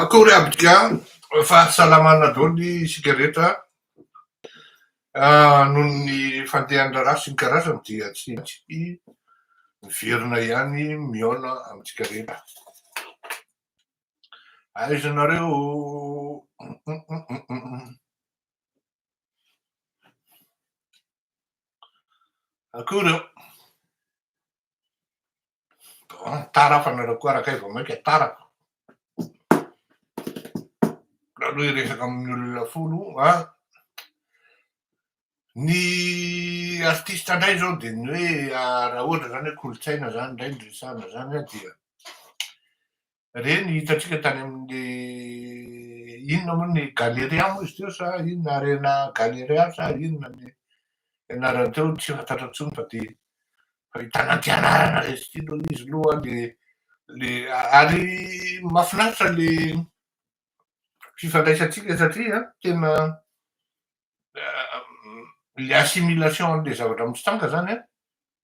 Akory abika fahasalamana daholo isika rehetra an, noho ny fandehan'ny raharaha sy ny karazany dia tsy maintsy miverina ihany mihaona amintsika rehetra. Aiza nareo oh? Akory oh. Bon, tara aho fa nareo koa arakay vao maika tara. Raha loha hiresaka amin'ny olona folo a ny artista indray izao dia ny hoe raha ohatra izany hoe kolontsaina izany indray no resahana izany dia Re ny hitantsika tany amin'ny inona moa ny Galeria moa izy teo sa inona Arena Galeria sa inona ny anarany teo tsy fantatra intsony fa dia fa i Tanantianarana re izy ity aloha le izy aloha le le ary mahafinaritra le fifandraisantsika satria tena le assimilation an'le zavatra mitsitanga zany a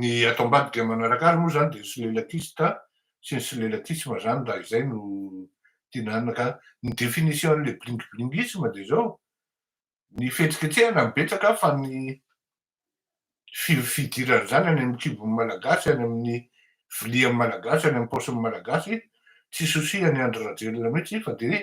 Ny ato ambadika dia manaraka azy moa izany dia ny solelakista sy ny solelakisma izany raha izay no dinana ka ny définition an'ilay blingblingisme dia izao, ny fihetsiketsehana no betsaka fa ny fidiran'izany any amin'ny kibon'ny Malagasy, any amin'ny vilian'ny Malagasy, any amin'ny paosin'ny Malagasy, tsy souci an'i Andry Rajoelina mihitsy fa dia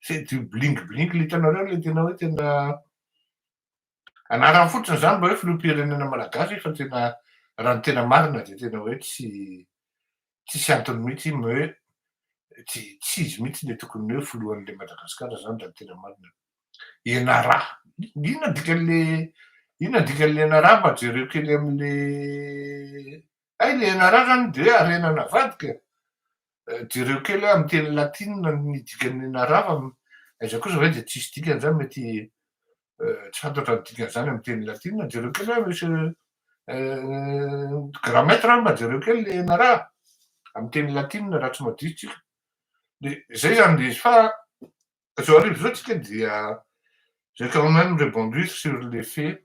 c'est du bling bling le hitanareo le tena hoe tena anarany fotsiny zany mba hoe filoham-pirenena malagasy fa tena raha ny tena marina dia tena hoe tsy tsisy antony mihitsy hoe hoe tsy tsy izy mihitsy le tokony hoe filohan'le madagasikara zany raha ny tena marina enara inona dikan'le inona dikan'le enara mba jereo kely amin'le Hay le enararany dia harena navadika e! jereo kely amin'ny teny latina ny dikan'ny enarara, aiza kosa ve dia tsisy dikany izany mety tsy fantatra ny dikan'izany amin'ny teny latina, jereo kely hoe monsieur grammaire anga jereo kely le enarara amin'ny teny latina raha tsy madiso tsika, dia izay izany dia izy fa zao arivo zao tsika dia j'ai quand meme rebondi sur le fait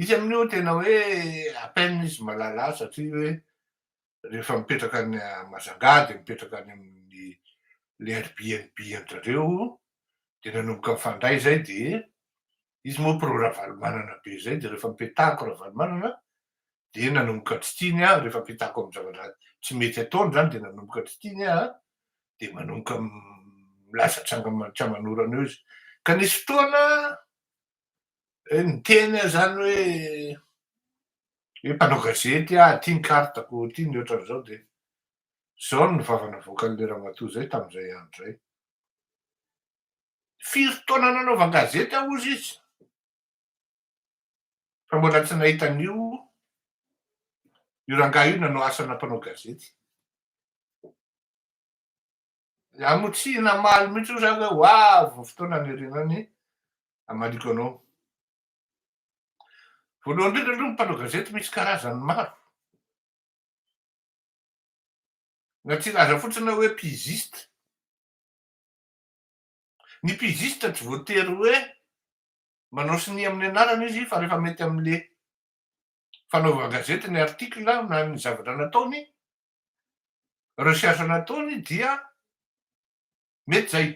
Izy amin'io tena hoe à peine izy malala azy satria hoe rehefa mipetraka any Majanga dia mipetraka any amin'ny le Airbnb an-drareo dia nanomboka mifandray zay dia izy moa pro Ravalomanana be zay dia rehefa mipetahako Ravalomanana dia nanomboka tsy tiany aho rehefa mipetahako amin'ny zavatra tsy mety ataony zany dia nanomboka tsy tiany aho dia manomboka milaza tranga tsy aman'orana eo izy ka nisy fotoana Niteny aho izany hoe hoe mpanao gazety aho, ity ny carte-ko, ity ny ohatran'izao dia izao no vava navoakan'ilay ramatoa izay tamin'izay andro izay. Firy taona nanaovan-gazety aho hozy izy fa mbola tsy nahita an'io io rangahy io nanao asana mpanao gazety. Namotsihy namaly mihitsy hoy zany hoe ho avy ny fotoana hanerena ny hamaliako anao. Voalohany indrindra aloha ny mpanao gazety misy karazany maro. Na tsy hilaza fotsiny aho hoe pigiste. Ny pigiste tsy voatery hoe manao sonia amin'ny anarana izy fa rehefa mety amin'ilay fanaovan-gazety ny article na ny zavatra nataony recherche nataony dia mety zay.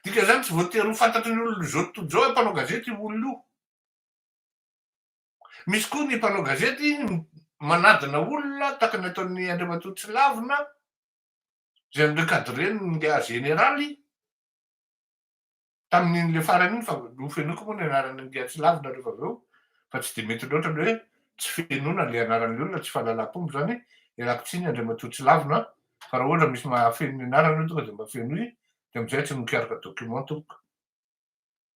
Dika zany tsy voatery ho fantatry ny olona zao tontolo zao hoe mpanao gazety io olona io. Misy koa ny mpanao gazety manadina olona tahaka ny ataon'i Andriamatoa Tsilavina zay mi-recadrer ny média général. Tamin'in'ilay farany iny fa nofenoiko moa ny anaran'i Ngiahy tsy lavina rehefa avy eo fa tsy dia mety loatra ny hoe tsy fenoina ilay anaran'ilay olona, tsy fahalalam-pomba izany, ialako tsiny Andriamatoa tsy lavina an, fa raha ohatra misy mahafeno ny anarany hoe tonga dia mba fenoy dia amin'izay tsy mikaroka document tompoko.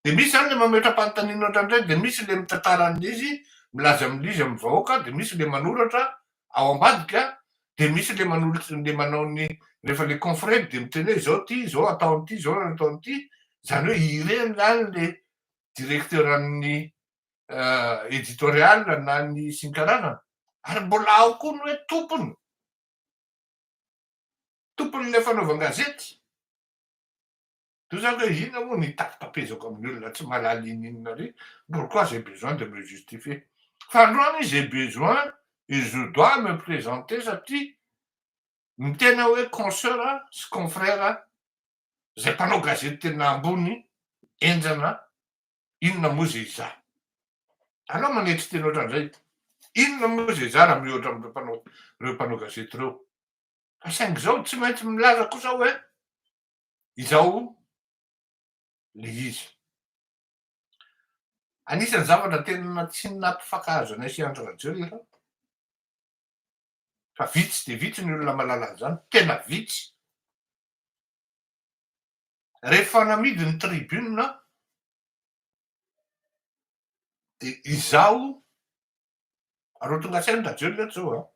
Dia misy izany ilay mametra-panontaniana ohatran'izay, dia misy ilay mitantara an'ilay izy, milaza amin'ilay izy amin'ny vahoaka, dia misy ilay manoratra ao ambadika dia misy le manolotra le manao ny rehefa le confrère dia miteny hoe izao ity izao atao an'ity izao no atao an'ity izany hoe ireny zany le directeur an'ny editorial na ny isin-karazany ary mbola ao koa ny hoe tompony tompon'ilay fanaovan-gazety Toy izany hoe inona moa ny hitapitapezako amin'ny olona tsy mahalala ininona re? Pourquoi j'ai besoin de me justifier? Fa androany izy j'ai besoin et je dois me présenter satria ny tena hoe consoeur sy confrère izay mpanao gazety tena ambony henjana inona moa izay izaho? Alao manetry tena ohatran'izay inona moa izay izaho raha mihoatra amin'ireo mpanao ireo mpanao gazety ireo? Fa saingy izao tsy maintsy milaza kosa hoe Izao ilay izy. Anisan'ny zavatra tena tsy nampifankahazo anay sy Andry Rajoelina fa vitsy dia vitsy ny olona mahalala an'izany, tena vitsy. Rehefa namidy ny tribune aho dia izaho aloha tonga saina Rajoelina eto izao an!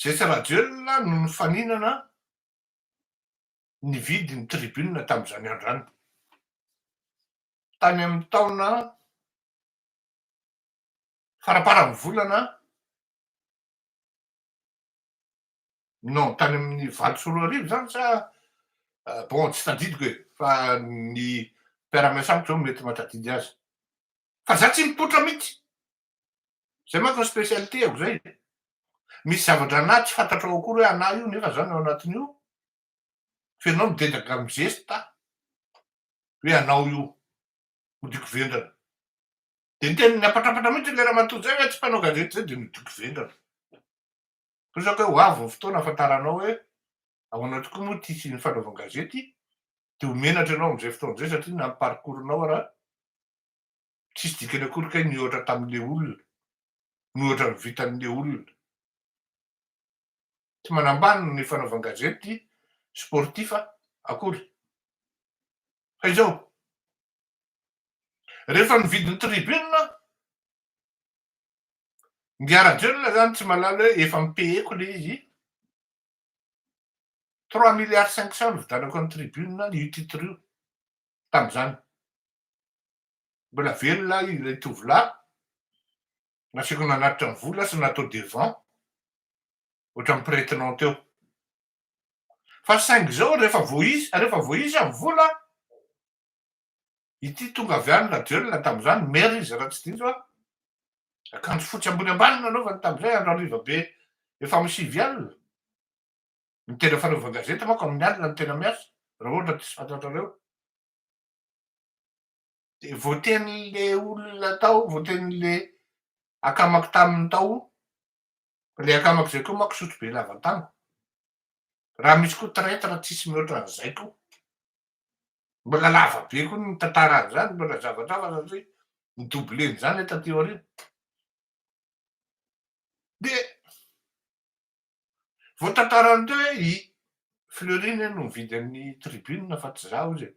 Zesy Rajoelina no nifaninana nividy ny tribune tamin'izany andro izany. Tany amin'ny taona faraparan'ny volana non tany amin'ny valo sy roa arivo izany sa euh, bon tsy tadidiko e fa ny mpiara-miasa amiko izao mety mahatadidy azy fa za tsy mipoitra mihitsy Zay manko ny spécialité-ako zay. Misy zavatra anah tsy fantatrao akory hoe anah io nefa za no ao anatin'io, fa ianao midedaka mizesta hoe anao io, modioko vendrana. Dia ny teny niapatrapatra mihitsy ilay ramatoa zay hoe tsy mpanao gazety zay dia nodioko vendrana. Tozako hoe ho avy ny fotoana ahafantaranao hoe ahoana tokoa moa ity sy ny fanaovan-gazety dia ho menatra ianao amin'izay fotoana izay satria na ny parcours-nao ara Tsisy dikany akory kay ny ohatra tamin'le olona, ny ohatra vitan'le olona. Tsy manambany ny fanaovan-gazety sportif akory. Fa izao, rehefa nividy ny tribune, Ngia Rajoelina izany tsy mahalala hoe efa mi-payer-ko ilay izy, trois milliards cinq cents no nividanako an'i tribune io titre io tamin'izany. Mbola velona ilay tovolahy, nasaiko nanatitra ny vola sy natao devant, ohatran'ny pretenant teo. Fa saingy izao rehefa vao izy, rehefa vao izy ny vola, ity tonga avy any Rajoelina tamin'izany, maire izy raha tsy diso aho, akanjo fotsy ambony ambany no nanaovany tamin'izay andro hariva be efa amin'ny sivy alina, ny tena fanaovan-gazety manko amin'ny alina no tena miasa, raha ohatra diso fantatrareo. Dia voatenin'ilay olona tao, voatenin'ilay akamako taminy tao, ilay akamako izay koa manko sotrobe lavantango. Raha misy koa traitre tsisy mihoatra an'izay koa. Mbola lava be koa ny tantara an'izany, mbola zavatra hafa satria ni-doubler-n'izany taty aoriana. Dia Vao tantarany teo hoe i Fleury anie no nividy an'i Tribune fa tsy izaho izy e!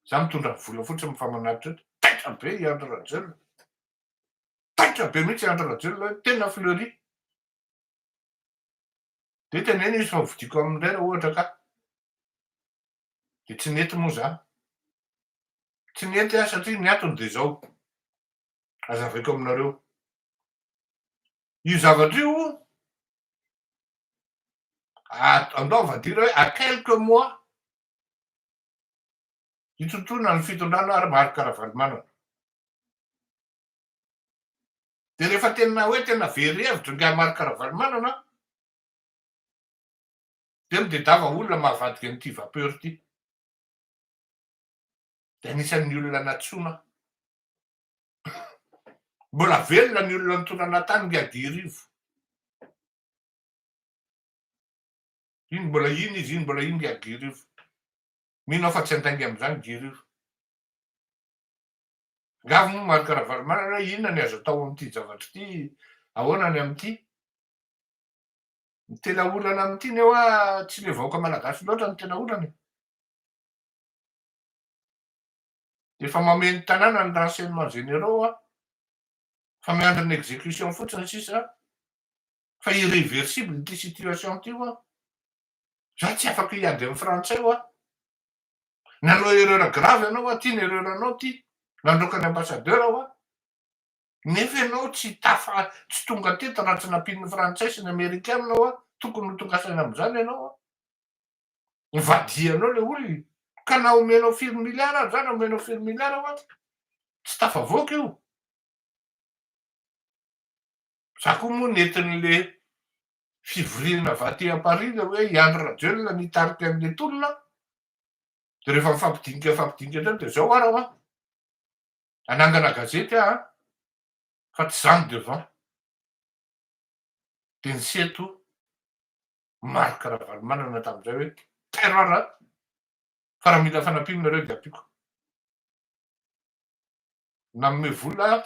Izaho mitondra vola fotsiny mifamanatitra eto. Taitra be i Andry Rajoelina. Taitra be mihitsy i Andry Rajoelina hoe tena Fleury. Dia teneno izy fa hovidiako aminy indray raha ohatra ka. Dia tsy nety moa izany. Tsy nety aho satria ny antony dia izao, hazavaiko aminareo. Io zavatra io andao avadira hoe à quelques mois hitontoana ny fitondrana ary Marc Ravalomanana. Dia rehefa tena hoe tena very hevitra ingahy Marc Ravalomanana dia midedava olona mahavadika an'ity vapeur ity. Dia anisan'ny olona natsoina Mbola velona ny olona nitondrana tany ngia dirivo. Iny mbola iny izy iny mbola iny ngia dirivo. Mino aho fa tsy handainga amin'izany dirivo. Ngavo moa Marc Ravalomanana hoe inona ny azo atao amin'ity zavatra ity, ahoana ny amin'ity. Ny tena olana amin'ity nefa tsy ilay vahoaka malagasy loatra no tena olana e. Efa mameno tanàna ny renseignements généraux a! Fa miandry ny execution fotsiny sisa fa irreversible ity situation ity hoa! Za tsy afaka hiady amin'ny frantsay hoa! Nanao erreur grave ianao hoa! Ty ny erreur anao ty! Nandroaka ny ambassadeur hoa! Nefa ianao tsy tafa tsy tonga teto raha tsy nampian'ny frantsay sy ny amerikana hoa! Tokony ho tonga saina amin'izany ianao hoa! Ivadihanao le olona ka na omenao firy milliard ary zany omenao firy milliard hoa tsy tafavoaka io. Za koa moa nentin'le fivoriana avy aty à Paris le hoe i Andry Rajoelina nitarika an'le tolona aho de rehefa mifampidinika mifampidinika zany de zao ara hoa anangana gazety aho an fa tsy zany devant de ny seto Marc Ravalomanana tamin'izay hoe terror a! Fa raha mila fanampiana nareo dia ampiako. Nanome vola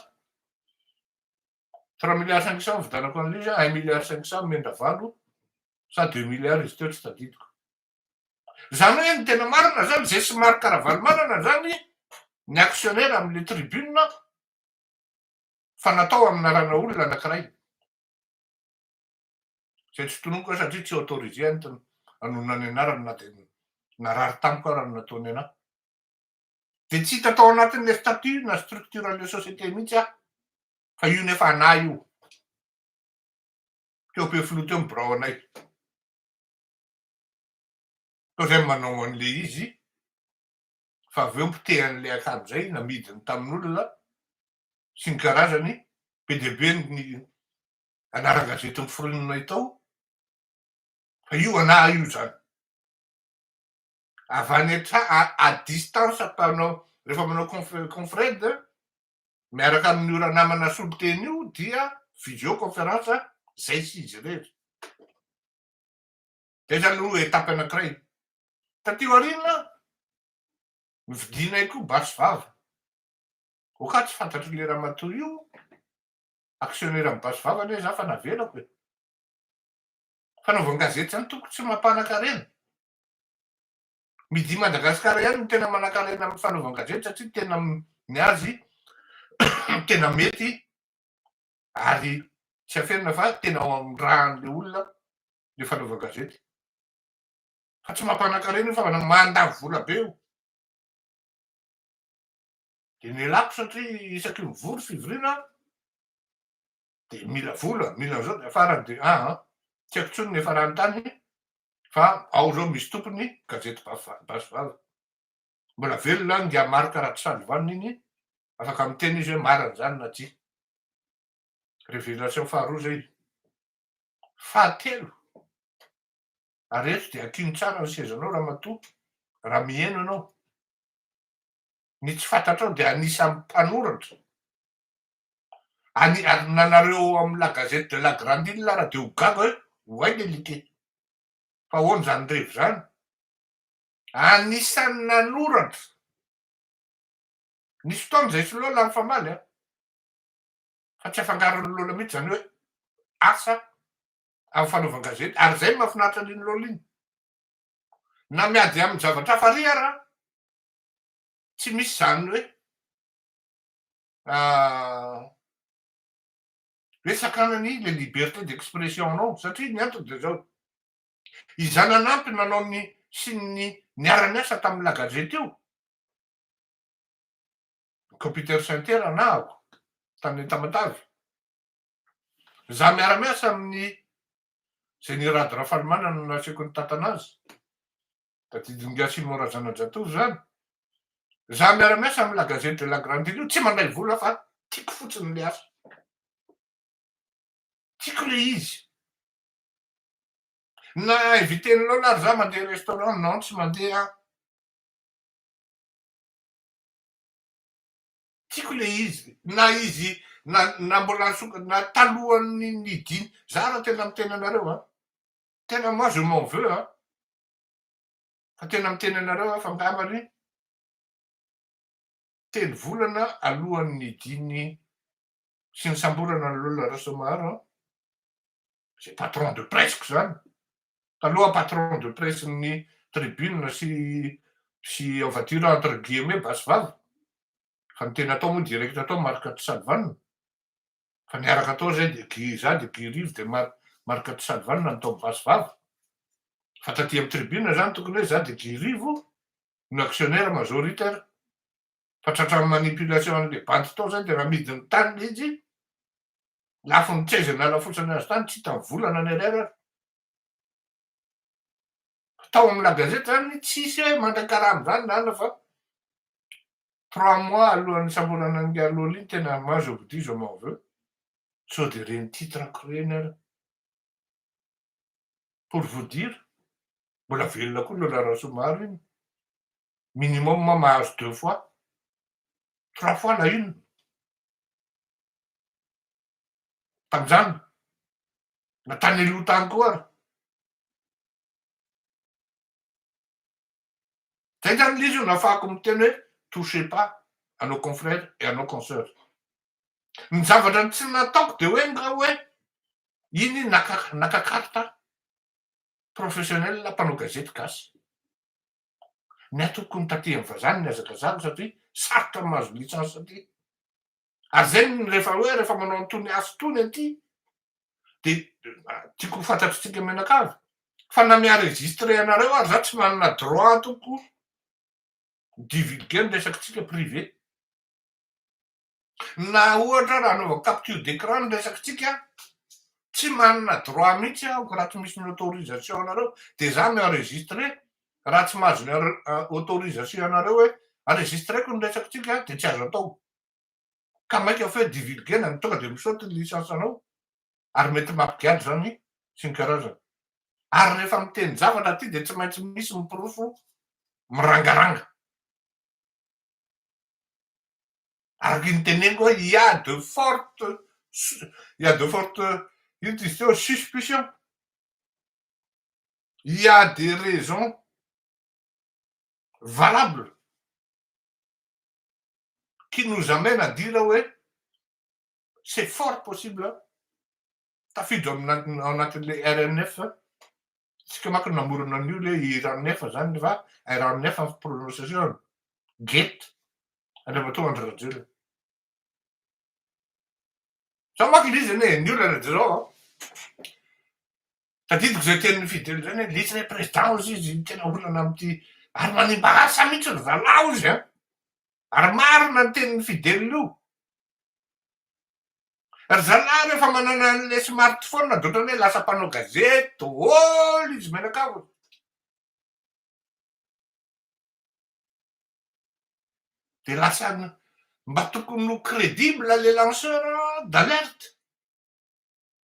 trois milliards cinq cents nividianako an'ilay izy a, un milliard cinq cents nomen'i Ravalo sa deux milliards izy teo tsy tadidiko. Izany hoe ny tena marina izany izay sy Marc Ravalomanana izany ny actionnaire amin'ilay tribune fa natao haminarana olona anankiray. Izay tsy tononiko aho satria tsy autorisé aho ny hanonona ny anarany na dia narary tamiko aza ny nataony an'ahy. Dia tsy hita tao anatin'ilay statut na structure an'ilay société mihitsy aho fa io nefa anah io. Teo be filoha teo ny birao anay. Tao izay manao an'ilay izy fa avy eo mpoteha an'ilay akanjo izay namidiny tamin'olona sy ny karazany be dia be ny anaran-gazety noforononay tao, fa io anah io zany, avy any an-trano, à distance mpanao, rehefa manao conf- confred miaraka amin'io ranamana soloteny io dia visio conférence zay sy izy irery, zay zany aloha étape anankiray, taty aoriana novidianay koa basy vava, ok ah tsy fantatr'le ramatoa io Actionnaire am basy vava anie za fa navelako e! Fanaovan-gazety zany tompoko tsy mampanan-karena. Media Madagascar ihany no tena manan-karena amin'ny fanaovan-gazety satria tena ny azy tena mety ary tsy aferina fa tena ao amin'ny rahan'ilay olona ilay fanaovan-gazety. Fa tsy mampanan-karena io fa mandany vola be io. Dia ny lako satria isaky ny vory fivoriana dia mila vola, mila an'izao dia farany dia aa, tsy haiko intsony ny hiafarany tany fa ao izao misy tompony gazety basy vava. Mbola velona any ingahy Marc Ratsalivanina iny, afaka miteny izy hoe marina izany na tsia. Révélation faharoa izay. Fahatelo, ary eto dia akino tsara ny sezanao ramatoa raha miheno ianao. ny tsy fantatrao dia anisan'ny mpanoratra any ary nanareo amin'ny la gazette de la grande ile ara dia ho gaga hoe oay le like fa ahoana izany revy izany anisan'ny nanoratra nisy fotoana izay sy lola nifamaly an fa tsy afangaron'ny lola mihitsy izany hoe asa amin'ny fanaovan-gazety ary izay no mahafinaritra an'iny lola iny na miady amin'ny zavatra hafa ary ara Tsy misy izany hoe hoe sakana ny le liberté d'expression anao satria ny antony dia izao, izay nanampy nanao ny sy ny niara-niasa tamin'ny La Gazette io, Computer Center anahako tany Entamatave, izaho miara-miasa amin'i Jenny Rado Rafalimanana no nasiako ny tatana azy, Tadidin'i Gasimo Razanajatovo izany. Izaho miara-miasa amin'ny La Gazette de la Grande Île io, tsy mandray vola fa tiako fotsiny ilay asa. Tiako ilay izy. Na inviter-n'i Lola ary izaho mandeha restaurant, non tsy mandeha aho. Tiako ilay izy. Na izy, na, na mbola, na talohan'ny nidin, izaho raha tena miteny anareo an. Tena moi je m'en veux a! Fa tena miteny anareo aho fa angambany telo volana alohan'ny nidian'ny sy nisamborana an'i Lola Rasoamaharo an, izay patron de presse-ko izany, taloha patron de presse-n'ny Tribune sy sy Ouvature entre guillemets basy vava, fa ny tena atao moa directe atao Marc Tisalvana, Fa niaraka tao zay dia Guy za dia Guy Rivo dia Mar Marc de Salval na nitaoby vaso vava. Fa taty am tribune zany tokony hoe za dia Guy Rivo no actionnaire majoritaire. Fa tratra am manipulation anle bandy tao zany dia raha amidy ny tany mihitsy lafo ny tseza nalafotsany azy tany tsy hitany vola na ny ariary ary. Tao amin'ny la gazette zany tsisy hoe mandray karama zany ny anona fa trois mois alohan'ny nisamborana an'i Ngaloli no tena moi je vous dis je m'en veux sao dia ireny titre ako ireny ary pour vous dire mbola velona koa Lola Rasoamaro iny minimum ma mahazo deux fois trois fois la une tamin'izany, na tany aloha tany koa ary. Zay zany le izy no afahako miteny hoe touchez pas à nos confrères et à nos consoeurs. Ny zavatra ny tsy nataoko de hoe nga hoe iny naka naka carte professionnelle mpanao gazety gasy. Ny ahy tokony taty amin'ny vazaha no nihazakazahako satria sarotra ny mahazo licence aty. ary izay no rehefa hoe rehefa manao an'itony asa itony aty dia tiako ho fantatr'isika mianakavy fa na mi-enregistrer anareo ary za tsy manana droit ataoko divulguer ny resakitsika privé na ohatra raha anaovako capture d'écran ny resakitsika tsy manana droit mihitsy aho raha tsy misy ny autorisation anareo dia za mi-enregistrer raha tsy mahazo ny autorisation anareo hoe enregistreko ny resakitsika dia tsy azo atao ka maika feuille divulguer na ny tonga dia misaute ny licence anao ary mety mampigadra izany sy ny karazany ary rehefa miteny zavatra aty dia tsy maintsy misy miporofo mirangaranga araka ny teneniko hoe il y a de forte il y a de forte ino ty izy teo suspicion il y a des raisons valable qui nous amène à dire hoe c'est fort possible tafiditra ao anatin'ilay RNF tsika manko namorona an'io le IRANF zany fa RNF ny prononciation get Andriamatoa Andry Rajoelina zao manko ilay izy anie ny olana dia zao an Tadidiko izay tenin'i Fidel izay hoe litsy ilay président hozy izy, tena olana amin'ity, ary manimba asa mihitsy ry zalahy hozy an! Ary marina ny tenin'i Fidel io. Ry zalahy rehefa manana an'ilay smartphone dia ohatran'ny hoe lasa mpanao gazety daholo izy mianakavy. Dia lasa mba tokony ho crédible les lanceurs d'alerte.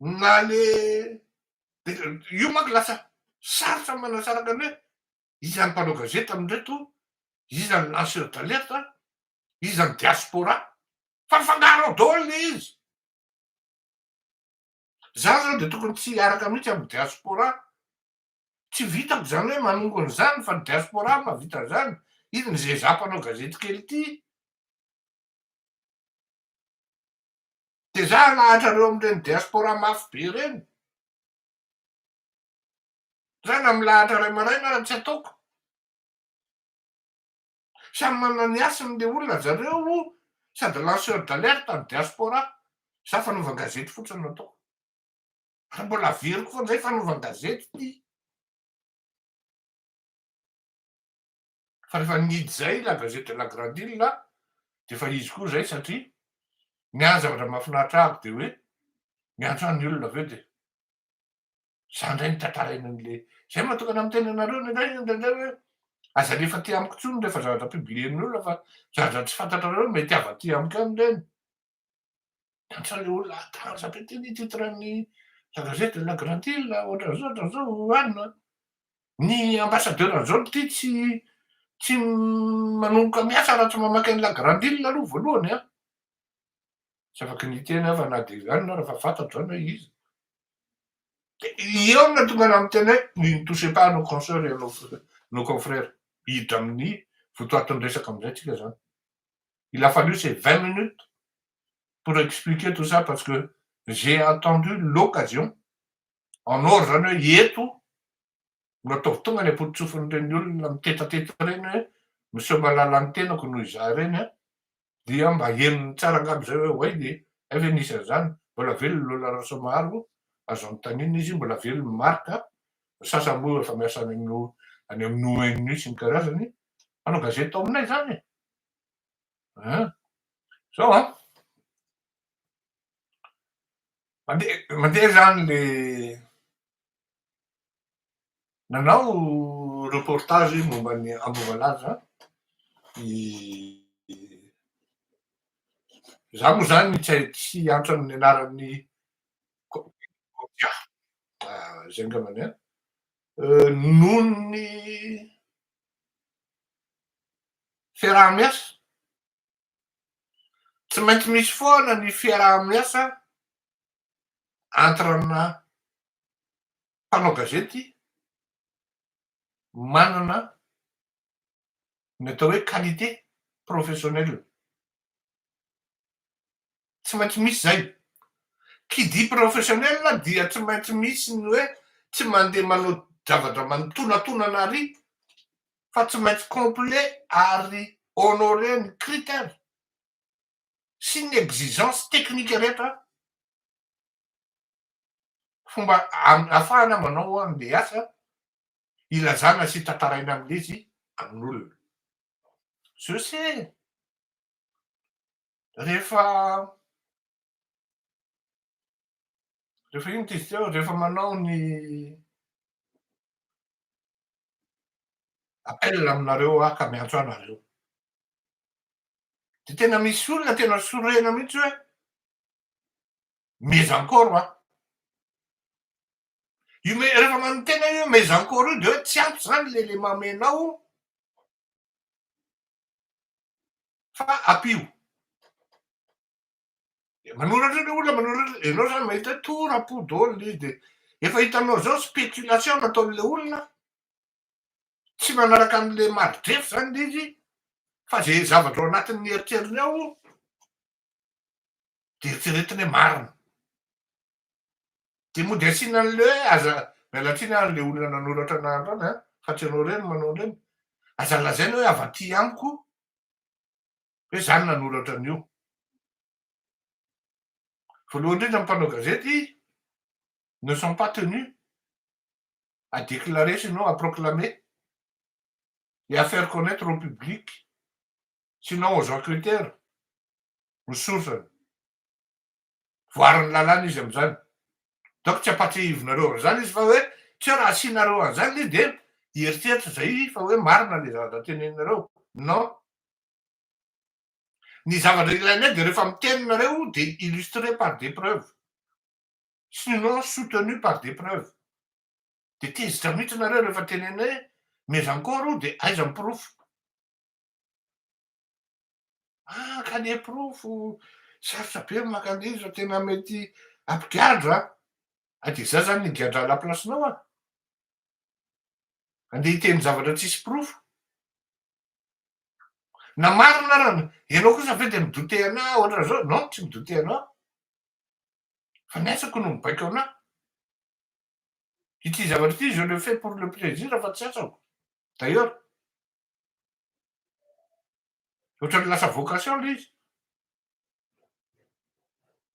na le io manko lasa sarotra manasaraka ny hoe iza ny mpanao gazety amindreto, iza ny lanceur d'alerte, iza ny diaspora fa mifangaro ao daholo le izy, za zao de tokony tsy hiaraka mihitsy aminy diaspora, tsy vitako zany hoe manongona izany fa ny diaspora mahavita an'izany, izy mizezà mpanao gazety kely ity. Dia za alahatra reo amin'ireny diaspora mafy be ireny. Za na milahatra ray maraina ara tsy ataoko. Samy manana ny hasiny le olona zareo sady lanceur d'alerte ny diaspora. Za fanaovan gazety fotsiny no ataoko. Ary mbola averiko foana zay fanaovan gazety ty. fa rehefa nihidy izay La Gazette de la Grande Ile dia efa izy koa izay satria ny ahy zavatra mahafinaritra ahy aby dia hoe miantso ahy ny olona avy eo dia za indray no tantaraina an'ilay izay mahatokana amin'ny tenanareo indraindray indraindray hoe aza alefa aty amiko intsony rehefa zavatra publier-n'ny olona fa zavatra tsy fantatrareo mety hava aty amiko ihany ireny Ohatran'ny olona hatanjaka ity ny titran'ny la gazette de la grande ile ohatran'izao ohatran'izao anona. Ny ambassadeur an'izao ity tsy tsy manomboka miasa raha tsy mamaky an'i la grande ile aloha voalohany an! Tsy afaky niteny aho fa na dia izany na rehefa fantatro izany hoe iza. Dia eo no tonga namiteny hoe ne nous touchez pas à nos consoeurs et à nos nos confrères. Hiditra amin'ny votoatin'ny resaka amin'izay tsika izany. il a fallu ces vingt minutes pour expliquer tout ça parce que j'ai attendu l'occasion en or zany hoe eto no ataovy tonga any am-potontsofin'ireny olona mitetateta ireny hoe miseho malala ny tenako noho izaho ireny a dia mba henony tsara angamba izay hoe way dia hay ve nisy an'izany mbola velona Lola Rasoamaharo azo anontaniana izy mbola velona Marc ny sasany moa efa miasa any amin'ny any amin'ny ONU sy ny karazany mpanao gazety ao aminay izany e Hein? Zao an. Mandeha mandeha zany le nanao reportage momba ny Ambovalaza i za moa zany tsy antra amin'ny anaran'ny zay angambany an. Noho ny fiaraha-miasa. Tsy maintsy misy foana ny fiaraha-miasa entre ana mpanao gazety manana ny atao hoe qualité professionnelle. Tsy maintsy misy zay. Qui dit professionnel dia tsy maintsy misy ny hoe tsy mandeha manao zavatra manotonatonana ary fa tsy maintsy complet ary honorer ny critère sy ny exigence technique rehetra fomba ahafahana manao an'ilay asa ilazana sy tantaraina amin'ilay izy amin'olona. Je sais. rehefa rehefa ino t'izy teo rehefa manao ny appel aminareo aho ka miantso anareo de tena misy olona tena sorena mihitsy hoe mais encore aho io me rehefa manontena io mais encore io de hoe tsy ampy zany le le mamenao Fa ampio. Dia manoratra ny olona, manoratra, ianao zany mahita hoe toa rapo daholo ilay izy dia efa hitanao izao spéculation nataon'ilay olona, tsy manaraka an'ilay mari-drefy zany ilay izy fa izay zavatra ao anatin'ny eritreriny ao dia eritreretiny hoe marina. Dia mody asiana an'ilay hoe aza, miala tsiny ary ilay olona nanoratra anarandrana an, fa tsy ianao irery no manao an'ireny, aza lazaina hoe avy aty amiko hoe za no nanoratra an'io. Voalohany indrindra ny mpanao gazety ne sont pas tenus à déclarer sinon à proclamer et à faire connaitre au public sinon aux enquêteurs ny source-ny. voarin'ny lalàna izy amin'izany. Donc tsy ampatsiahivinareo an'izany izy fa hoe tsy hoe raha asianareo an'izany le dia hieritreritra izay fa hoe marina le zavatra teneninareo. Non. Ny zavatra ilainay dia rehefa miteny nareo dia illustré par des preuves. Sinon soutenu par des preuves. Dia tezitra mihitsy nareo rehefa teneninay hoe mais encore dia aiza ny porofo. Ah ka ny porofo sarotra be ny maka an'iny zao tena mety ampigadra a ah, de za zany ny gadra à la place nao a andeha hiteny zavatra tsisy porofo na marina ara ianao kosa ve de midote ana ohatra zao non tsy midote anao fa ny asako no mibaiko ana ity zavatra ity je le fais pour le plaisir fa tsy asako d'ailleurs Ohatran'ny lasa vocation ilay izy.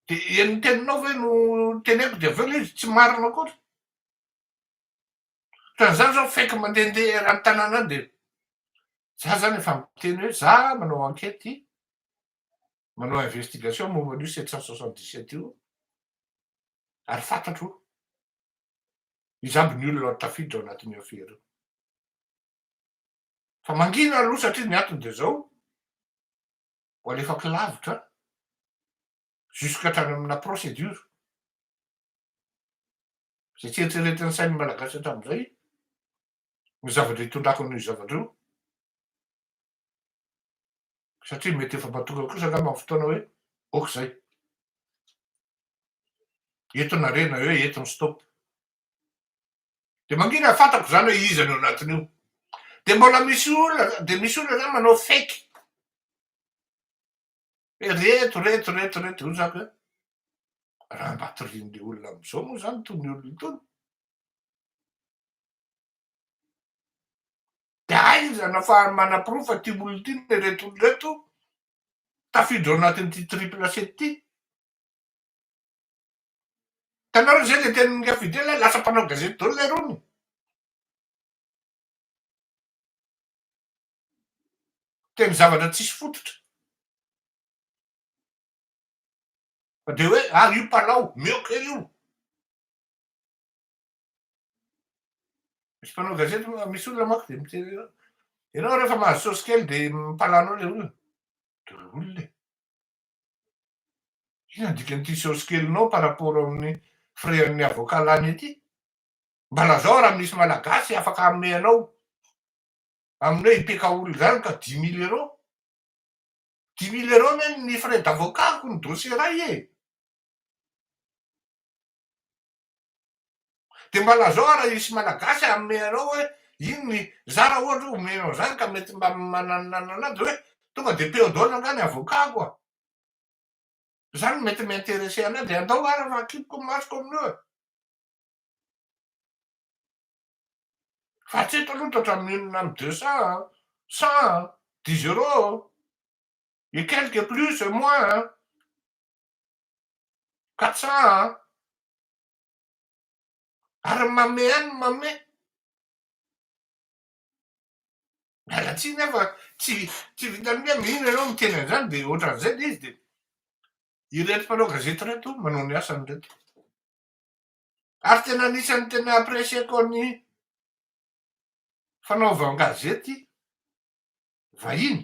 Dia ny teninao ve no teneniko dia avy eo ilay izy tsy marina koa. Ohatran'izany izao fake mandehandeha eran'ny tanàna any dia za izany efa miteny hoe za manao enquête, manao investigation momba an'io sept cent soixante dix sept io ary fantatro izany ny olona tafiditra ao anatin'io affaire io. Fa mangina aloha satria ny antony dia izao, ho alefako lavitra an, jusque hatrany amina procédure. Izay tsy eritreretin'ny sain'ny Malagasy hatramin'izay ny zavatra itondrako an'io zavatra io. Satria mety efa mahatonga kosa angamba amin'ny fotoana hoe ok izay. Eto ny harena eo, eto ny stop. Dia mangina hafantako izany hoe iza ny ao anatin'io. Dia mbola misy olona, dia misy olona izany manao fake. Hoe reto, reto, reto, reto, hoy zako hoe raha mba torian'ilay olona amin'izao moa izany itony olona itony. Dia aiza no afahany manaporofo fa ity olona ity no ireto olona ireto tafiditra ao anatin'ity triple C ity. Hitanareo izay izay tenin'i Rafidre ilay lasa mpanao gazety daholo ilay rony. Miteny zavatra tsisy fototra. Fa dia hoe ah io mpanao, mioka io. Misy mpanao gazety misy olona manko dia miteny hoe ianao rehefa mahazo saosy kely dia mpalano ilay olona. Daholo e. Inona ny dikan'ity saosy kelinao par rapport amin'ny frais an'ny avocat lany ety? Mba lazao raha misy malagasy afaka hanome anao amin'ny hoe IPKOL izany ka dix mille euros? Dix mille euros anie ny frais d'avocat-ko ny dossier iray e! Dia mba lazao ary hisy malagasy hanome anao hoe iny ny za raha ohatra hoe omena an'izany ka mety mba manananana dia hoe tonga dia peo dol angaha ny avocat-ko a! Izany no mety mi-interesser anay dia andao ary fa akipiko ny masoko amin'io e! Fa hatreto aloha toa hatramin'ny inona amin'ny deux cents an! cent an! dix euros et quelques plus et moins an! Katsaha an! Ary mamea ny mamea. Miala tsiny aho fa tsy tsy vitan'ny hoe mino ianao miteny an'izany dia ohatran'izay ilay izy dia ireto mpanao gazety ireto manao ny asany ireto. Ary tena anisan'ny tena apprécier-ko ny fanaovan-gazety vahiny.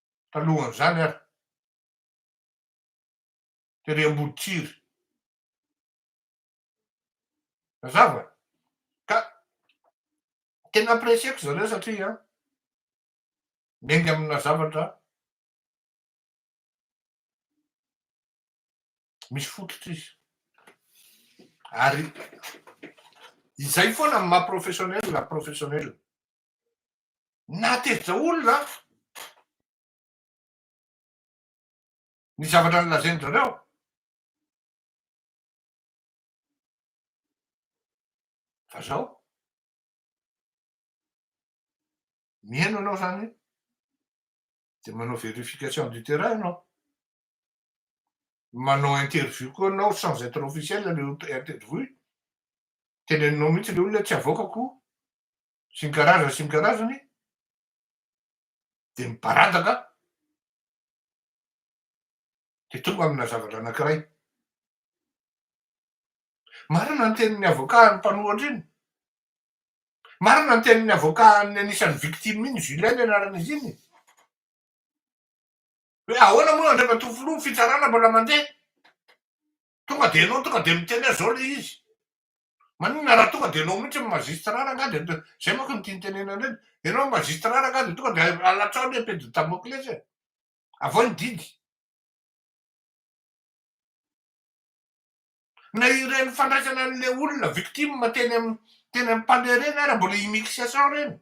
talohan'izany ary tery Amboditsiry. Mazava? Ka tena apprécier-ko zareo satria miainga amina zavatra misy fototra izy. Ary izay foana no maha-professionnel, professionnel. Nahatezitra olona aho. Ny zavatra nolazain-dry zareo. Fa zao, mihaino anao zany de manao verification du terrain anao. Manao interview koa anao sans être officiel le interview. Teneninao mihitsy le olona tsy avoakako sy ny karazany sy ny karazany dia mibaradaka dia tonga amina zavatra anankiray. Marina ny tenin'ny avocat an'ny mpanohatra iny. Marina ny tenin'ny avocat an'ny anisan'ny victime iny, Julien ny anaran'izy iny. Hoe ahoana moa Andriamatoa Filoha ny fitsarana mbola mandeha? Tonga dia enao tonga dia miteny azy zao le izy. Maninona raha tonga dia enao mihitsy magistrat rangah dia zay manko no tiany tenenina indrindra. Enao magistrat rangah dia tonga dia alatsao le epée de Damoclès e. Avy ao ny didy. Na ireny fandraisana an'le olona victime teny amin'ny teny amin'ny palais ireny ary mbola immixation ireny.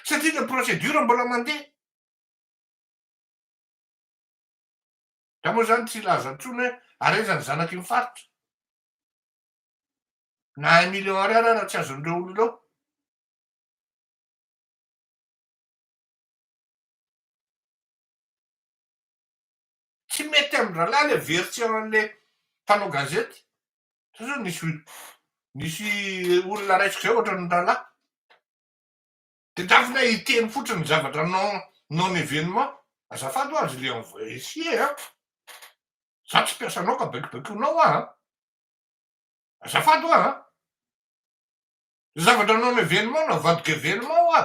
Satria le procédure mbola mandeha. Nga moa zany tsy hilaza intsony hoe ary aiza ny zanaky ny faritra? Na un million ariary ara tsy azon'ireo olona ireo. Tsy mety amin-drahalahy le very tsy eo an'le mpanao gazety. Sa zao nisy nisy olona raisiko zay ohatran'ny rahalahy. Dia tafiditra hiteny fotsiny ny zavatra non non événement, azafady hoa je l'ai envoyé an! Za tsy mpiasanao ka baikibaikonao hoa an! Azafady hoa an! Ny zavatra non événement no avadiko événement hoa!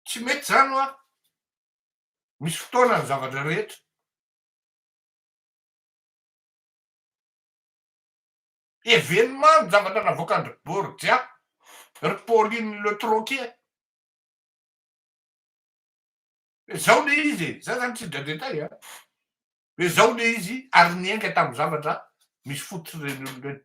Tsy mety izany hoa! Misy fotoana ny zavatra rehetra. Evenement ny zavatra navoakan-dry Borgia, ry Pauline Le Troquet. Dia izao ilay izy e, za zany tsy dra-detail a. Dia izao ilay izy ary niainga tamin'ny zavatra misy fototry ireny olona ireny.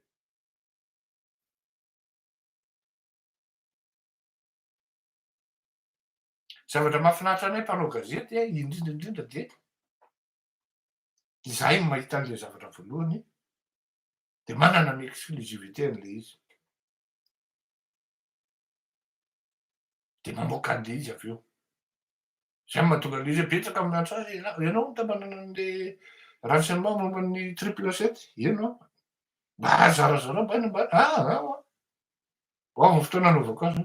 Zavatra mahafinaritra anay mpanao gazety a, indrindra indrindra dia izahay no mahita an'ilay zavatra voalohany dia manana ny exclusivité-ny ilay izy. Dia mamoaka an'ilay izy avy eo. Izay no mahatonga an'ilay izy hoe betsaka amin'ny antso azy, ianao no tamanana an'ilay renseignement momba ny triple sept, eny an, mba zarazarao mba ny mba, ah, ah, ah. Ho avy ny fotoana anaovako azy.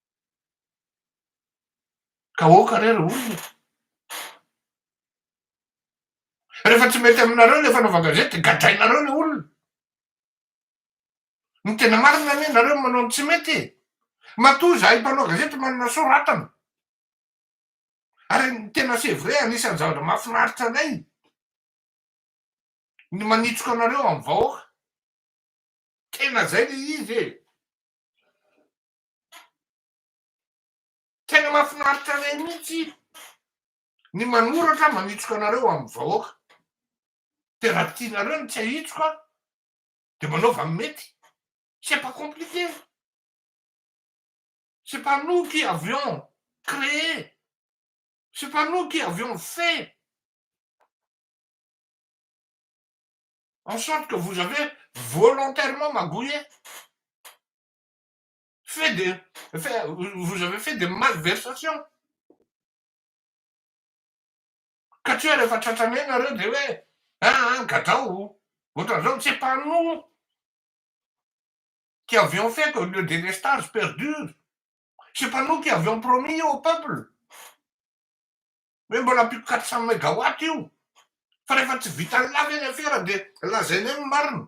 Ka aoka re ry olona e! Rehefa tsy mety aminareo ilay fanaovan-gazety dia gadrainareo ilay olona. Ny tena marina anie nareo no manao ny tsy mety e! Matoa izahay mpanao gazety manana soratana. Ary ny tena c'est vrai anisan'ny zavatra mahafinaritra anay ny manitsoka anareo amin'ny vahoaka. Tena izay ilay izy e! Tena mahafinaritra anay mihitsy ny manoratra manitsoka anareo amin'ny vahoaka. Dia raha tianareo ny tsy hahitsoka dia manaova ny mety. C'est pas compliqué. C'est pas nous qui avions créé, c'est pas nous qui avions fait en sorte que vous avez volontairement magouillé. Fait de, fait, vous avez fait des malversations. Ka tsy hoe rehefa tratranay ianareo dia hoe aa gadrao, ohatran'izao tsy mpanoa qui avions fait qu'au lieu des lestages perdure, c'est pas nous qui avions promis au peuple hoe mbola ampiko quatre cent megawatt io fa rehefa tsy vitan'ny la ve ny afera dia lazainay ny marina.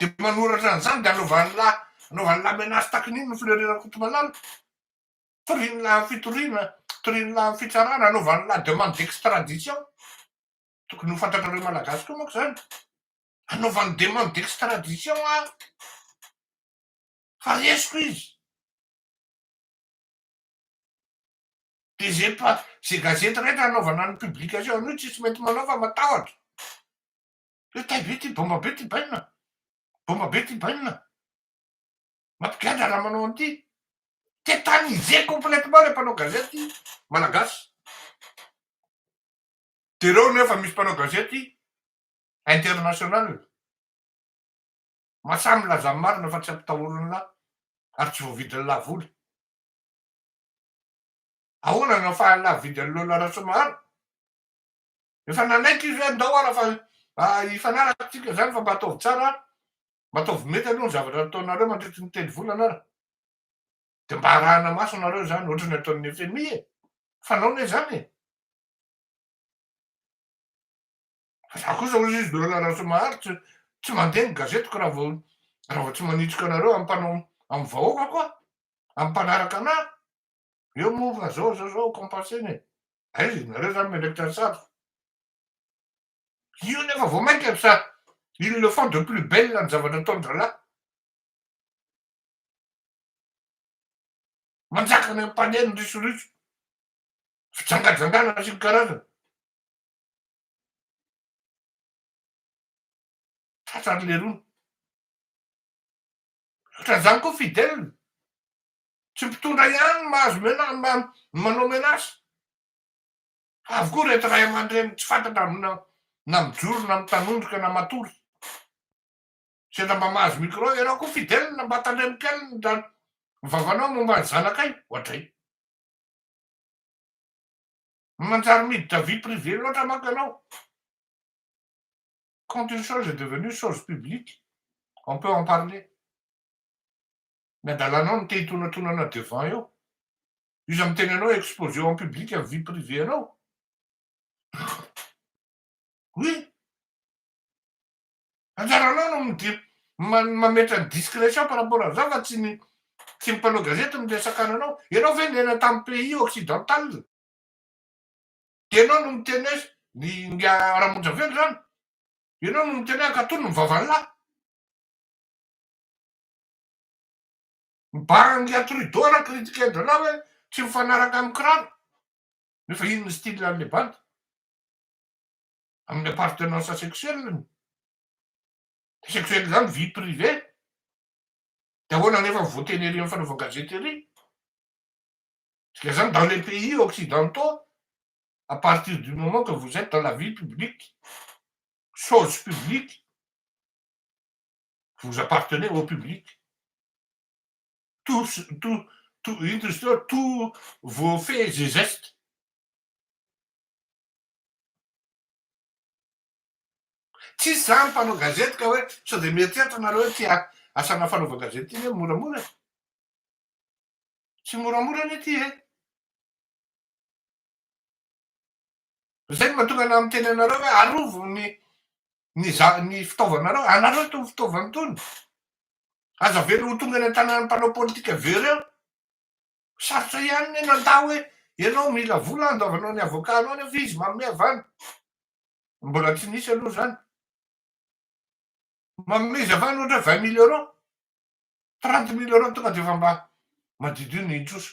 Dia manoratra an'izany dia anaovan'ny lahy anaovan'ny lahy menace takin'iny ny Fleury Rakotomalala. Torian'ny lahy amin'ny fitoriana, torian'ny lahy amin'ny fitsarana, anaovan'ny lahy demande d'extradition. Tokony ho fantatrareo Malagasy koa manko izany. Anaovan'ny demande d'extradition aho fa resiko izy. Dia izay pa- izay gazety rehetra anaovana ny publication an'io tsisy mety manao fa matahotra. Hoe tay be ty, bomba be ty bainina, bomba be ty bainina, mampigadra raha manao an'ity. Tetaniser complètement le mpanao gazety malagasy. Dia ireo nefa misy mpanao gazety international, masahy milaza ny marina fa tsy ampitahorin'ny lahy ary tsy voavidin'ny lahy vola. Ahoana no ahafahan'ny lahy mividy an'i Lola Rasoamaharo? Efa nanaiky izy hoe andao ara fa hifanaraka tsika izany fa mba ataovy tsara ara, mba ataovy mety aloha ny zavatra ataonareo mandritry ny telo volana ara. Dia mba arahana maso nareo izany ohatra ny ataon'ny FMI e! Fanao ne izany e! Fa za kosa hoy juge de paix Rasoamahary tsy tsy mandeha ny gazetiko raha vao raha vao tsy manitsika anareo ampanao amin'ny vahoakako aho, amin'ny mpanaraka anahy. Eo moa fa zao zao zao compenser-na e. Aiza ianareo zany miandraikitra ny satroka. Io nefa vao mainka sa ils le font de plus belle ny zavatra ataon-drahalahy. Manjaka any am-pane ny risoritso. Fijangajangana sy ny karazany. Tratran'ny lerony. Ohatran'izany koa Fidèle. Tsy mpitondra ihany no mahazo mena, manao menace. Avokoa ireto ray aman-dreny tsy fantatra amina na mijoro na mitanondrika na matory. Sendra mba mahazo micro ianao koa Fidèle mba tandremo kely ny da vavanao momba ny zanakay, ohatray. Manjary miditra vie privée loatra manko ianao. Quand une chose est devenue chose publique, on peut en parler. Ny adalanao no te hitonatonana devant eo. Io iza miteny anao exposer en public ny vie privée anao? Oui. Anjaranao no midi mametra ny discretion par rapport an'izao fa tsy ny tsy ny mpanao gazety no miresaka ananao. Ianao ve niaina tamin'ny pays occidental? Dia ianao no miteny hoe ny nga Ramonja ve ny rano? Ianao no miteny hoe ankatò ny vavan'la? Mibahana ny ry Trudeau raha critiquer-drarah hoe tsy mifanaraka amin'ny kiraro. Nefa iny ny style an'ilay bandy. Amin'ny appartenance sexuelle-ny. Sexuelle izany vie privée. Dia ahoana anefa ny voateny ery amin'ny fanaovan-gazety ery? Dikan'izany dans les pays occidentaux, à partir du moment que vous etes dans la vie publique, chose publique, Vous appartenez au public. Tous, tout, tout, ino izy teo, tous vos faits et gestes. Tsisy zany mpanao gazety ka hoe sao dia mieritreritra nareo hoe tia asana fanaovan-gazety iny hoe moramora. Tsy moramora anie ity e. Izay no mahatonga anah miteny anareo hoe arovo ny ny za- ny fitaovanareo, anareo itony fitaovana itony. Aza avela ho tonga any an-tanan'ny mpanao politika avy eo ireo. Sarotra ihany ny nandà hoe ianao mila vola handoavanao ny avocat-nao nefa izy manome avy any. Mbola tsy nisy aloha izany. Manome izy avy any ohatra hoe vingt mille euros, trente mille euros tonga dia efa mba madiodio ny trosa.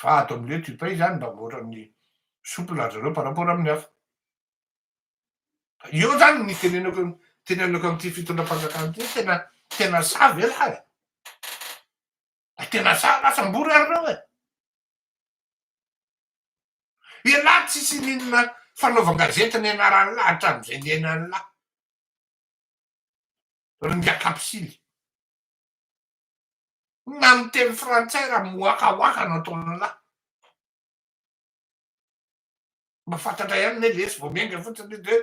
Fa ato amin'ireo tupay izany mba mihoatra amin'ny souple ry zareo par rapport amin'ny hafa. Eo izany ny tenenako ny tenenako amin'ity fitondram-panjakana ity hoe tena tena sahy ve lahy e? Fa tena sahy lahy sambory ary ireo e! Ialahy tsisy n'inona fanaovan-gazety nianaran'ny lahy hatramin'izay niainan'ny lahy. Ry ngah kapisily. Na miteny frantsay raha miwakawaka anao tololahy. Mba fantatra ihany ne lesy vao miainga fotsiny izy de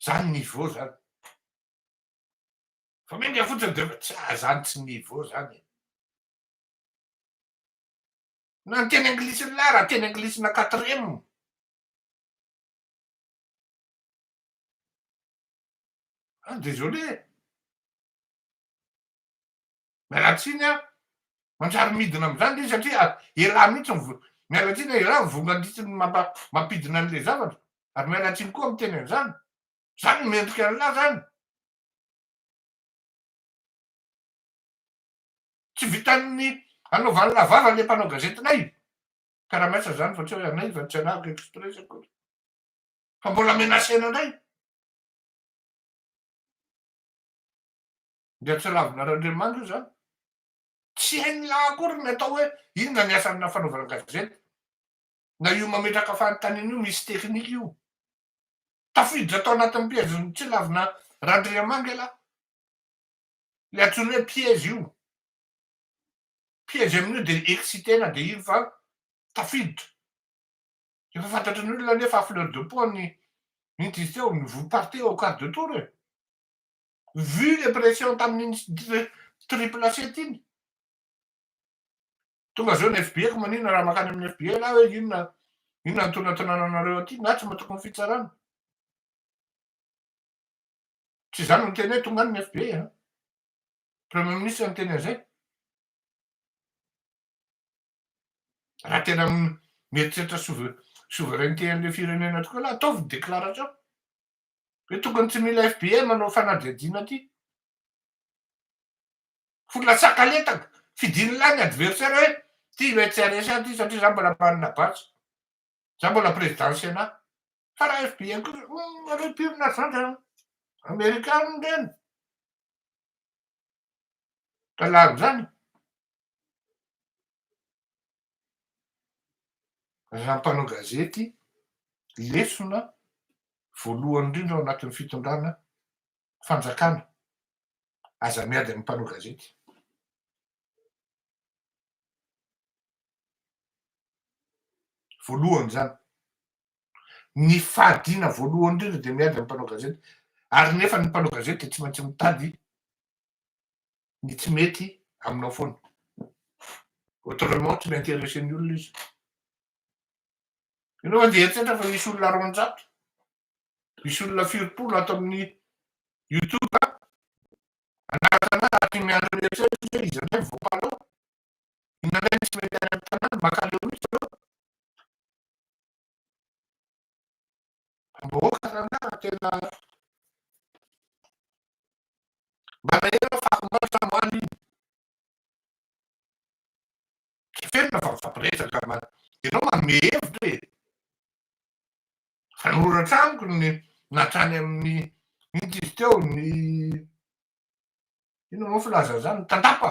zany niveau zany. Vao miainga fotsiny de efa tsy ah zany tsy niveau zany e. Na ny teny anglisiny lahy raha teny anglisina quatrième. Ah désolé e. Miala tsiny a, manjary midina amin'izany le izy satria elah mihitsy ny vola. Miala tsiny a, elah ny vola mandritra ny mampidina an'ilay zavatra. Ary miala tsiny koa miteny an'izany. Izany no mendrika an'lah izany. Tsy vitan'ny anaovan'lah vava ilay mpanao gazetinay. Karamaisa izany fa tsy hoe anay fa tsy anahako express akory. Fa mbola menacena indray. Dia tsy Ravinarandriamanitra izany. Tsy hainy lahy akory ny atao hoe inona ny asana fanaovana gazety. Na io mametraka fanontaniana io misy teknika io. Tafiditra tao anatin'ny piège ny tsy lavina Randriamangy ialahy. Ilay antsoina hoe piège io. Piège amin'io dia exciter-na dia iny fa tafiditra. Efa fantatry ny olona anefa à fleur de peau ny inty teo, ny voa-partie au quart de tour e. Vu le pression tamin'iny triple assiette iny. Tonga avy eo ny FBI ko maninona raha makany amin'ny FBI ialahy hoe inona inona ny tonatonana anareo aty na tsy matoky ny fitsarana. Tsy izany no teny hoe tonga any ny FBI a. Premier ministre no teny an'izay. Raha tena mieritreritra souveraineté an'ilay firenena tokoa ialahy ataovy ny déclaration. Ve tokony tsy mila FBI manao fanadihadiana ty? Fo latsaka letaka, fidiny lahy ny adversaire hoe ty ilay tsy haresy ahy ty satria za mbola manana badge, za mbola président Sénat. Fa raha FBI kosa, humm, nareo mpionona ry zandry an, Amerikana ndray an, ka lany zany. Raha mpanao gazety, lesona voalohany indrindra ao anatin'ny fitondrana fanjakana, aza miady amin'ny mpanao gazety. Voalohany izany. Ny fahadiana voalohany indrindra dia miady amin'ny mpanao gazety. Ary nefa ny mpanao gazety dia tsy maintsy mitady ny tsy mety aminao foana. Autrement tsy mi-interesser ny olona izy. Ianao andeha hieritreritra fa misy olona roanjato, misy olona firim-polo ato amin'ny youtube an, hanaraka anao ary tia miandry anao etsy eroa izay izy indray mivoaka anao. Inona indray no tsy mety any amin'ny tanàna, makaleo mihitsy ireo. Mboka ranara tena mba nahery aho fa omaly fa omaly iny efenina fa mifampiresaka fa ianao manome hevitra e! Nanoratra amiko ny natrany amin'ny inty izy teo ny inona moa filaza an'izany ny tandapa.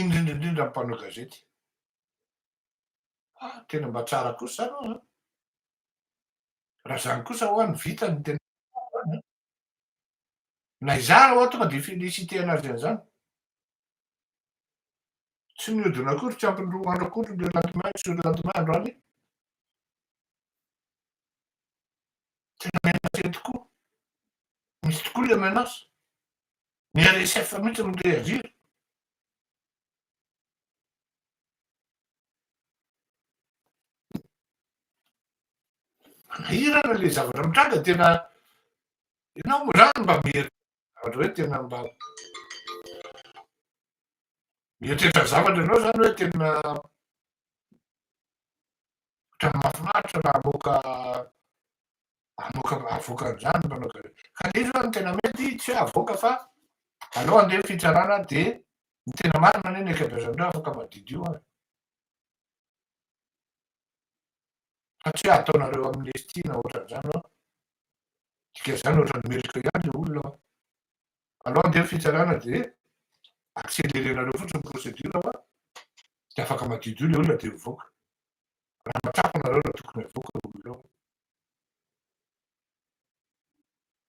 indrindra indrindra ny mpanao gazety ah tena mba tsara kosa zany hoa raha zany kosa hoa ny vita ny tena na izany hoa tonga dia félicité anazy an'izany tsy mihodina akory tsy ampiny roa andro akory le lendemain sur lendemain andro alina tena menacé tokoa misy tokoa le menace Ny RSF mihitsy no mi-reagir. Manahirana ilay zavatra mitranga, tena ianao moa izany mba mieritreritra zavatra hoe tena mba mieritreritra zavatra ianao izany hoe tena ohatran'ny mahafinaritra raha hamoaka Avoaka avoaka anzany mpanao gazety. Ka le izy oa ny tena mety tsy oe avoaka fa aleo andeha fitsarana de ny tena marina anie ny ankabeazan'ireo afaka madidio ary. Fa tsy oe ataonareo amnesty na otranzany oa. Dika zany otrany meloka ihany le olona oa. Aleo andeha fitsarana de accelerenareo fotsiny ny procedure oa de afaka madidio le olona de mivoaka. Raha matsapa nareo raha tokony avoaka reo olona reo.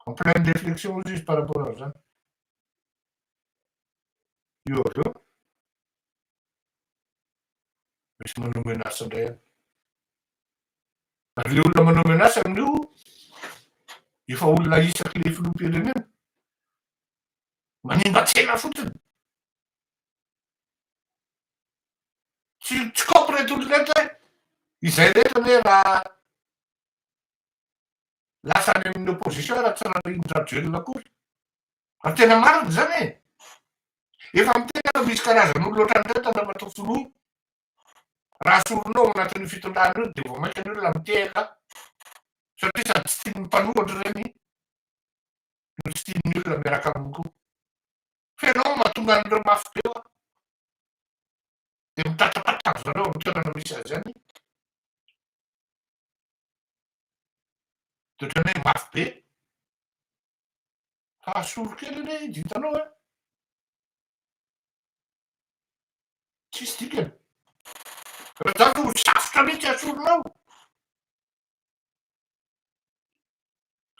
En pleine réflexion ozy izy par rapport an'izany. Io avy eo, misy manao menace indray any. Ary ilay olona manao menace amin'io, efa olona isaky ilay filoham-pirenena. Manimba tsena fotsiny. Tsy tsy kôpy reto olona reto hoe izay rehetra anie raha lasa any amin'ny opposition raha tsy Rarindra-Rajoelina akory. Ary tena marina izany e. Efa miteny aho fa misy karazan'olona ohatran'ireto Andriamatoa Filoha. Raha soronao ao anatin'io fitondrana io dia vao mainka ny olona mitehaka satria sady tsy tian'ny mpanohatra ireny no tsy tian'ny olona miaraka aminy koa. Fa ianao no mahatonga an'ireo mafy be hoa dia mitatapata ry zareo amin'ny toerana misy azy any dia ohatran'ny hoe mafy be fa asolo kely anie izy hitanao an! tsisy dikany raha izany dia ho safotra mihitsy asolonao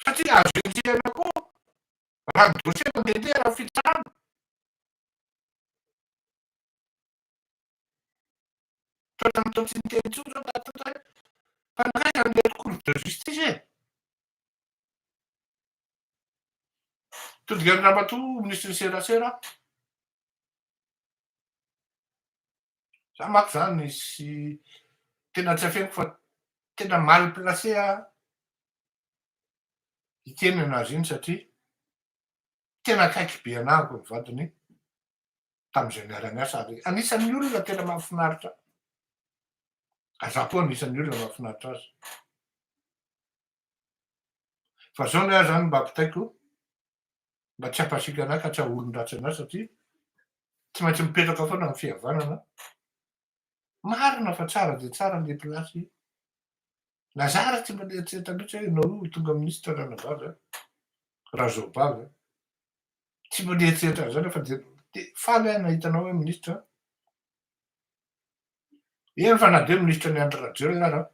satria azo enjehina koa Raha ny dossier no mety e, raha fitrahana. Toetra mitondra tsy niteny intsony zao Tatiana hoe fa nankaiza ny mety cours de justice e? Todigan Ramatoa ministry ny serasera aho. Za manko zany sy tena tsy afeniko fa tena mal placé aho. i Kenya nahazo iny satria tena akaiky be anah araka ny vadiny tamin'izay niara-niasa ary anisan'ny olona tena mahafinaritra ahy. Ary izaho koa anisan'ny olona mahafinaritra azy. Fa izao ny ahy izany mba ampitaiko mba tsy hampasiaka anah ka tsy haha-olon-dratsy anah satria tsy maintsy mipetraka foana amin'ny fihavanana Marina fa tsara dia tsara ilay place io. Lazara tsy mbola nieritreritra mihitsy hoe ianao io ho tonga ministra ranabavy an! Razoabavy an! Tsy mbola nieritreritra an'izany aho fa dia faly aho nahita anao hoe ministra an! Eny fa na dia hoe ministra an'i Andry Rajoelina ary aho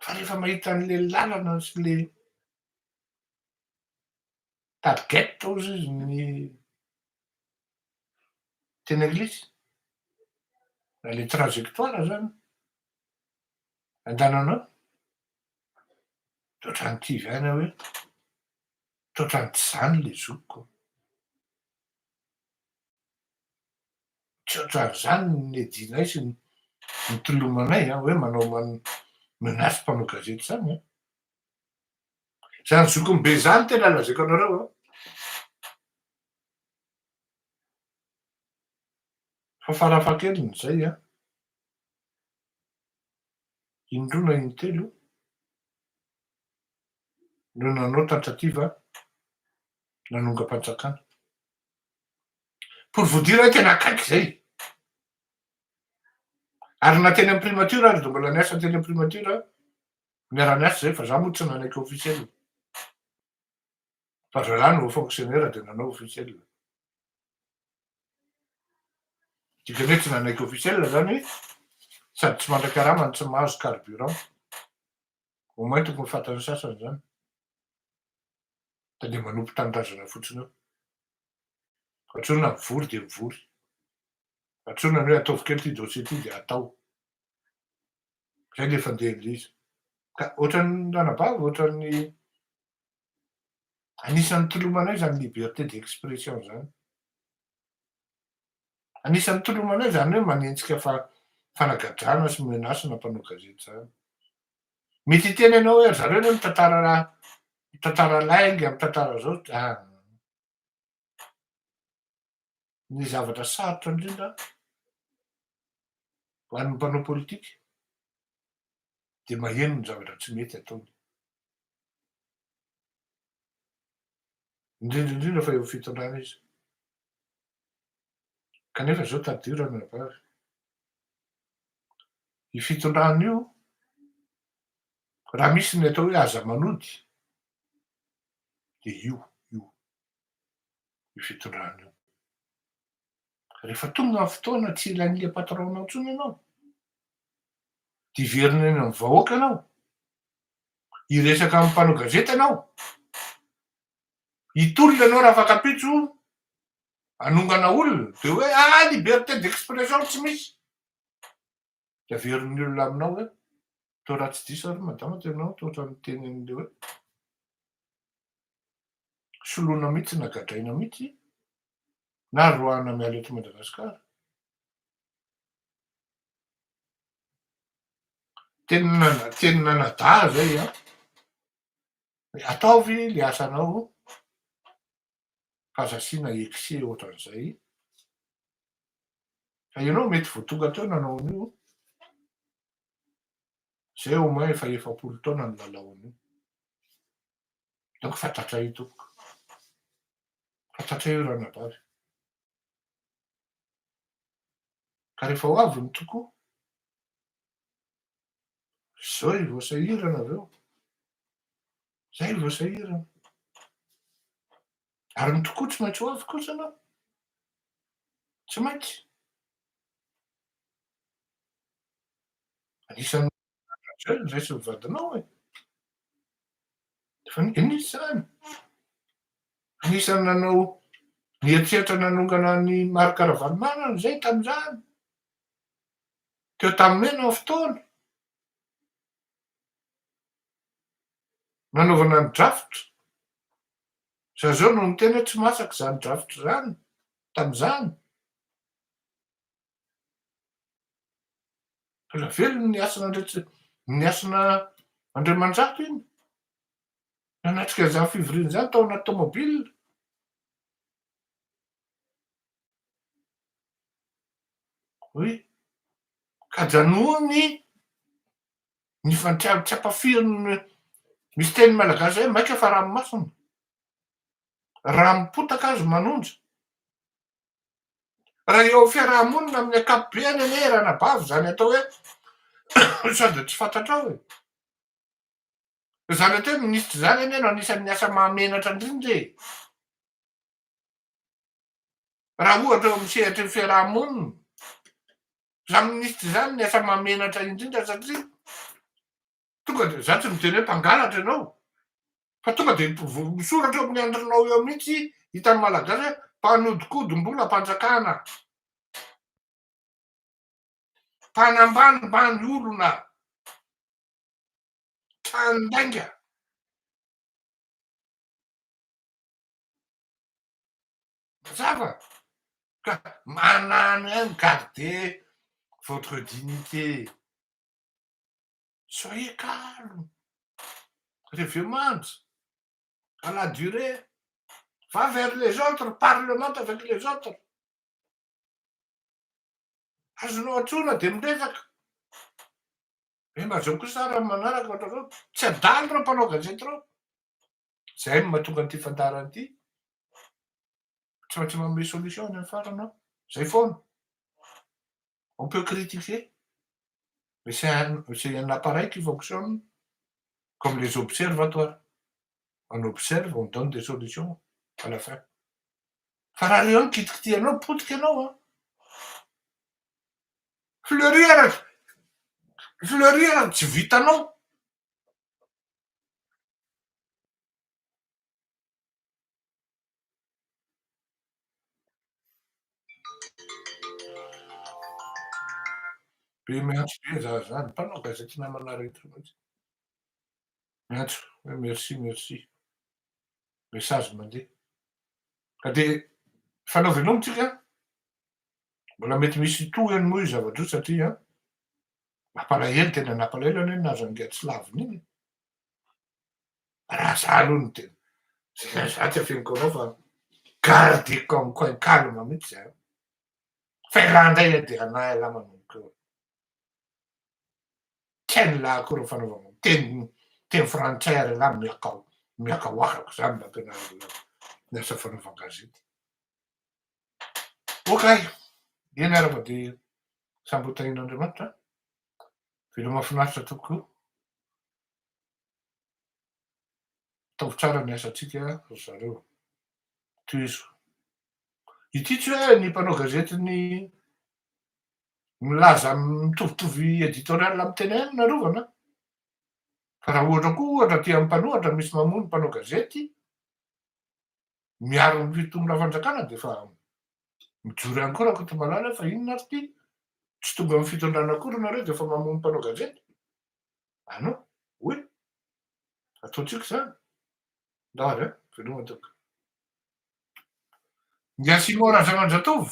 fa rehefa mahita an'ilay lalana sy ilay Target hozy izy ny teny anglisy, na le trajectoire zany andananao de otrany kivy any aho hoe trotrany tsy zany le zokiko, tsy otrany zany ny nedianay sy nitolomanay an hoe manao menace mpanao gazety zany an. Zany zokiny be zany tena lazaiko anareo a. Fa farafahakeliny izay a, indroa na intelo no nanao tentative nanongam-panjakana. Pour vous dire hoe tena akaiky izay. Ary na teny amin'ny primature ary dia mbola niasa teny amin'ny primature Miara-miasa izay fa za moa tsy nanaiky officiel. Fa zalahy no fonctionnaire dia nanao officiel. Dikany hoe tsy nanaiky officiel zany sady tsy mandrakarama no tsy mahazo carburant. Au moins tokony fantan'ny sasany zany. Fa dia manompo tanindrazana fotsiny eo. Antsoina mivory dia mivory. Antsoina ny hoe ataovy kely ity dossier ity dia atao. Zay le fandehan'ilay izy. Ka ohatran'ny ranabavy, ohatran'ny anisan'ny tolomanay zany liberté d'expression zany. Anisan'ny tolomanay zany hoe manenjika fa fanagadrana sy menace na mpanao gazety zany. Mety hiteny ianao hoe ry zareo anie mitantara raha mitantara lainga, mitantara zao. Ah. ny zavatra sarotra indrindra ho an'ny mpanao politika dia maheno ny zavatra tsy mety ataony. Indrindra indrindra fa eo fitondrana izy. Kanefa izao tadidio ranabavy. Ny fitondrana io, raha misy ny atao hoe aza manody, dia io, io. io fitondrana io. Rehefa tonga ny fotoana tsy ilain'ny le patron-nao intsony ianao, dia hiverina eny amin'ny vahoaka ianao, hiresaka amin'ny mpanao gazety ianao, hitolona ianao raha fatam-pitso hanongana olona, dia hoe ah liberté d'expression tsy misy. de averin'ny olona aminao hoe to raha tsy diso ary madama to ianao to ohatran'ny miteny an'le hoe soloina mihitsy na gadraina mihitsy na roahana miala eto Madagasikara teny nana teny nanadaha zay a ataovy le asanao aza asiana excès ohatran'izay fa ianao mety vao tonga teo nanao an'io zay au moins efa efapolo taona no nanao an'io donc fantatray io tompoko fantatray io ranabavy ka rehefa ho avy ny tokoa zao i voasahirana avy eo Zay vao sahirana. Ary ny tokoa tsy maintsy ho avy kosa anao. Tsy maintsy. Anisan'ny zay ny raisin'ny vadinao e. Fa nisy izany. Anisan'ny nanao nihatsehatra nanongana ny Marc Ravalomanana izay tamin'izany. Teo tamin'ny mena ny fotoana. nanaovana ny draft, za zao no niteny hoe tsy masaka zany draft zany tamzany, mbola velona ny hasina ny hasina Andriamanjato iny nanatrika an'izany fivoriana izany tao anaty tomobile. Oui. Ka janoa ny ny fantrary tsy ampafirin'ny misy teny malagasy zay maika fa ranomasina raha mipotaka azy manonja raha eo fiarahamonina amin'ny akapobeany anie raha nabavy zany atao hoe sady tsy fantatrao e zany atao hoe minisitra zany anie no anisan'ny asa mahamenatra indrindra e Raha ohatra eo amin'ny sehatry ny fiaraha-monina, izany minisitra izany ny asa mahamenatra indrindra satria tonga dia izaho tsy miteny hoe mpangalatra ianao fa tonga dia misoratra eo amin'ny andrinao eo mihitsy hitan'ny malagasy hoe mpanodikodim-bola am-panjakana, mpanambanimbany olona, tranon-dainga. Mazava ka manano ihany garde votre dignité soyez calme reveo manja à la durée va vers les autres parlement avec les autres azonao antsoina dia miresaka eh mba zao kosa raha manaraka ohatr'izao tsy adalo ireo mpanao gazety ireo Izay no mahatonga an'ity fandaharana ity. Tsy maintsy manome solution any amin'ny farany aho. Izay foana. On peut critiquer. Mais c'est un, c'est un appareil qui fonctionne comme les observatoires. On observe, on donne des solutions à la fin. Fa raha reo mikitikitihanao, potika ianao an. Fleurir, fleurir tsy vitanao. Be miantso be za zany, mpanao gazety namana rehetra mihitsy. Miantso hoe merci merci. Message mandeha. Ka dia fanao veloma tsika. Mbola mety misy tohiny moa io zava-droa satria Mampalahelo tena nampalahelo anie nahazo an'ingahy tsy lavina iny e! Raha za aloha no tena za za tsy afeniko anao fa garde comme coin calme mihitsy za fa ialahy indray ilay dia hanahy ialahy manomboka eo tsy hain'ny lahy akory ny fanaovana teny teny frantsay ary ialahy miakao miakaoakako za mba ampianarina ny asa fanaovan-gazety Ok, eny ary mba dia samby ho tahian'Andriamanitra an! Veloma finaritra tokoa! Ataovy tsara ny asantsika ry zareo! Tohizo! Ity tsy hoe ny mpanao gazety ny milaza mitovitovy editorial amin'ny tena ihany no arovana an! Fa raha ohatra koa ohatra aty amin'ny mpanohatra misy mamono mpanao gazety, miaro ny fitondrana fanjakana dia efa mijoro ihany koa Rakotomalala fa inona ary ity, tsy tonga amin'ny fitondrana akory nareo dia efa mamono mpanao gazety? Ah non, oui, ataontsika izany, ndao ary an, veloma tompoko. Ngia Simon Razamanjatovo.